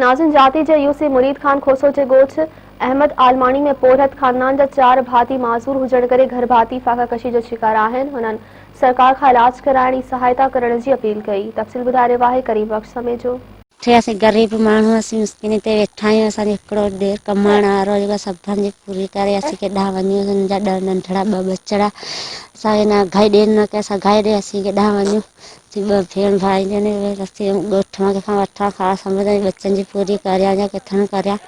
ناظم جاتي جي U C Murid Khan Khoso جي ڳوٺ احمد عالماڻي ۾ پورهيت خاندان جا چار ڀاتي معذور هجڻ ڪري گهر ڀاتي فاقه ڪشي جا شڪار آهن هنن سرڪار کان علاج ڪرائڻ ۽ سهائتا ڪرڻ جي اپيل ڪئي تفصيل ٻڌائي رهيو آهي ڪريم بخش سميجو. اٺي اسين غريب ماڻهو اسين مسڪيني تي ويٺا آهيون اسان جو هڪڙو ڏير ڪمائڻ وارو جيڪو اسان ڀن جي پوري ڪري اسين ڪيڏانهن وڃون اسان جا ڏهه ننڍڙا ٻه ٻچڙا اسان کي نه گهائي ڏين نه ڪي اسان گهائي ڏي اسين ڪيڏانهن وڃون. جي ٻه ڀيڻ ڀائي جن رستي ڳوٺ مان ڪٿان وٺان خاص سمجھ ۽ ٻچن جي پوري ڪريان يا ڪٿان ڪريان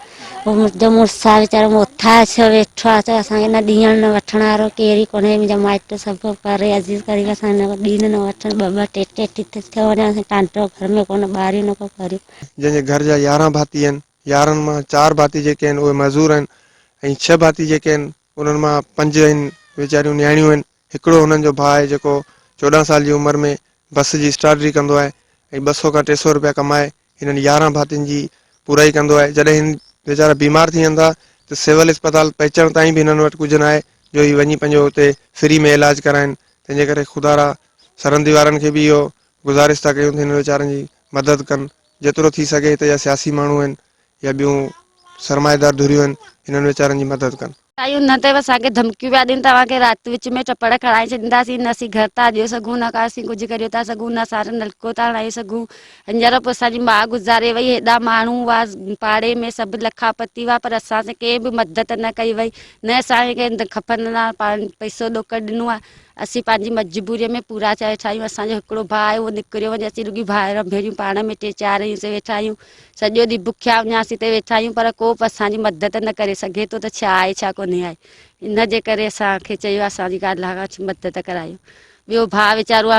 هو منهنجو مڙس آ ويچارو موٿا ڇو ويٺو آ ته اسان کي نه ڏيڻ نه وٺڻ وارو ڪير ئي ڪونهي منهنجا مائٽ سڀ پري عزيز قريب اسان نه ڏين نه وٺن ٻه ٻه ٽي ٽي ٽي ٿي ٿيو وڃن اسان ٽانڊو گهر ۾ ڪونه ٻاريون نه ڪو ڪريون جن جي گهر جا يارهن ڀاتي آهن يارهن مان چار ڀاتي جيڪي آهن اهي معذور آهن ۽ ڇهه ڀاتي جيڪي آهن انهن مان پنج آهن ويچاريون نياڻيون آهن هڪڙو هنن جو ڀاء آهي جيڪو چوڏهن سال جي عمر ۾ بس جي اسٽارڊري ڪندو آهي ۽ ٻه سؤ کان ٽي سؤ روپيا ڪمائي هنن يارهن ڀاتين جي پورائي ڪندو آهي جڏهن هن ويچارا بيمار ٿي وڃن ٿا ته سول اسپتال پهچڻ تائين به هنن وٽ ڪجهه نه آهي جو هي وڃي پنهنجو اتي فري ۾ علاج ڪرائين تنهن جي ڪري خدا را سرهندي وارن کي به اهو گذارش ٿا ڪيون ته هنن ويچارن جي مدد ڪن جيترو ٿي سگهي هتي جا سياسي ماڻهو آهن يا ٻيون سرمائيدار ڌريون آهن انهن ويچارن جي مدد ڪن. سائين انهن تي به اسان کي ڌمڪيون پيا ڏين توهان کي رات وچ ۾ چپڙ کڻائي ڇڏينداسين نه اسين گهر تان اڏيو سگهون نه ڪا اسين ڪجهه ڪريو ٿا سگهون نه اسان نلڪو ٿا هڻايو سگهون هينئر به اسان جي ماء گذاري وئي هيڏا ماڻهو هئا پاڙي ۾ سڀ لکا پتي هئا پر اسان سان ڪنهن به مدد نه ڪئي وئي نه اسان کي کپن لا پئسو ڏوڪڙ ڏنو آهي اسين پنهنجي مجبوري ۾ پورا چاهي ٺاهيون اسان جو هڪڙو ڀاء آهي اهو نڪريو وڃي اسين رڳي ڀائر ڀيڻيون پاڻ ۾ ٽي چار آهيون سي ويٺا آهيون سڄو ڏينهن بکيا اڃاسين تي ويٺا آهيون پر ڪو به اسان جي مدد نه ڪري سگهي ٿو ته ڇا آهي ڇا ڪونهي آهي ان جي ڪري اسان کي چيو آهي اسان جي گاڏلا کان مدد ڪرايو ٻيو ڀاء ويچارو آهي